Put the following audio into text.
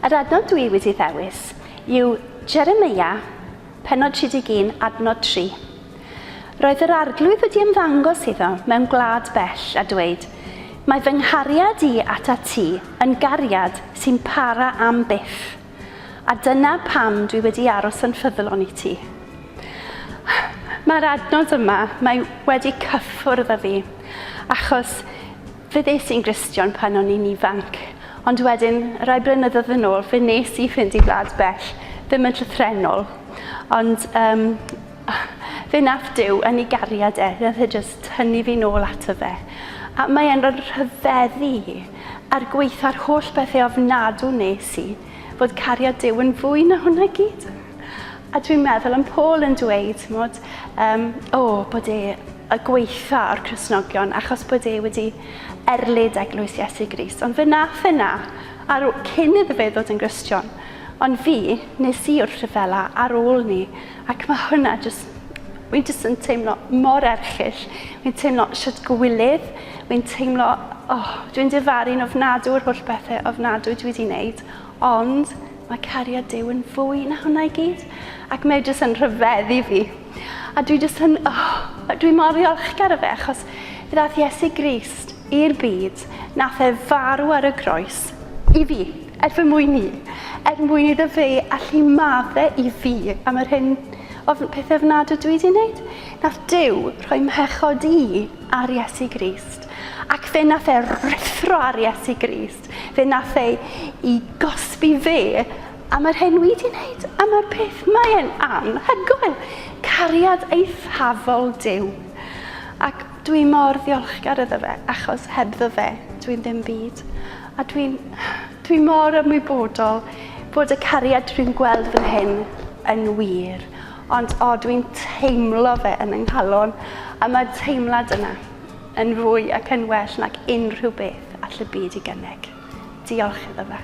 Yr adnod dwi wedi ddewis yw Jeremia, penod 31, adnod 3. Roedd yr arglwydd wedi ymddangos iddo mewn gwlad bell a dweud, Mae fy nghariad i at ti yn gariad sy'n para am byth. A dyna pam dwi wedi aros yn ffyddlon i ti. Mae'r adnod yma, mae wedi cyffwrdd â fi, achos fe ddes i'n Gristion pan o'n i'n ifanc, ond wedyn, rai blynyddoedd yn ôl, fe nes i fynd i wlad bell, ddim yn llythrennol, ond um, fe nath Dyw yn ei gariad e, nath e jyst tynnu fi nôl ato fe. A mae e'n rhyfeddu i. A'r gwaetha'r holl bethe ofnadw wnes i, fod cariad Duw yn fwy na hwnna i gyd. A dwi'n meddwl am Paul yn dweud, t'mod, um, o, oh, bod e y gwaetha o'r Cresnogion, achos bod e wedi erlid eglwys Iesu Gris. Ond fe nath e na, ar, cyn iddo fe ddod yn Gristion. Ond fi, nes i wrth rhyfela ar ôl ni, Ac mae hwnna jyst... Wi'n jyst yn teimlo mor erchyll. Wi'n teimlo sut gwylydd. Wi'n teimlo... Oh, dwi'n difaru'n ofnadw o'r holl bethau ofnadw dwi wedi wneud. Ond mae cariad Duw yn fwy na hwnna i gyd. Ac mae jyst yn rhyfeddu fi. A dwi jyst yn... Oh, dwi mor ddiolchgar o fe achos fe ddath Iesu Grist i'r byd. Nath e farw ar y groes i fi. Er fy mwyn i. Er mwyn iddo fe allu madde i fi am yr hyn ofn pethau ofnadw dwi wedi wneud. Nath Duw rhoi mhechod i ar Iesu Grist. Ac fe nath e ruthro ar Iesu Grist. Fe nath e i gosbi fe am yr hyn wi di wneud. A mae'r peth mae e'n anhygoel. Cariad eithafol Duw. Ac dwi mor ddiolchgar iddo fe achos hebddo fe dwi'n ddim byd. A dwi'n dwi mor ymwybodol bod y cariad dwi'n gweld fan hyn yn wir, ond o, dwi'n teimlo fe yn yng nghalon, a mae'r teimlad yna yn fwy ac yn well nag unrhyw beth all y byd i gynnig. Diolch iddo fe.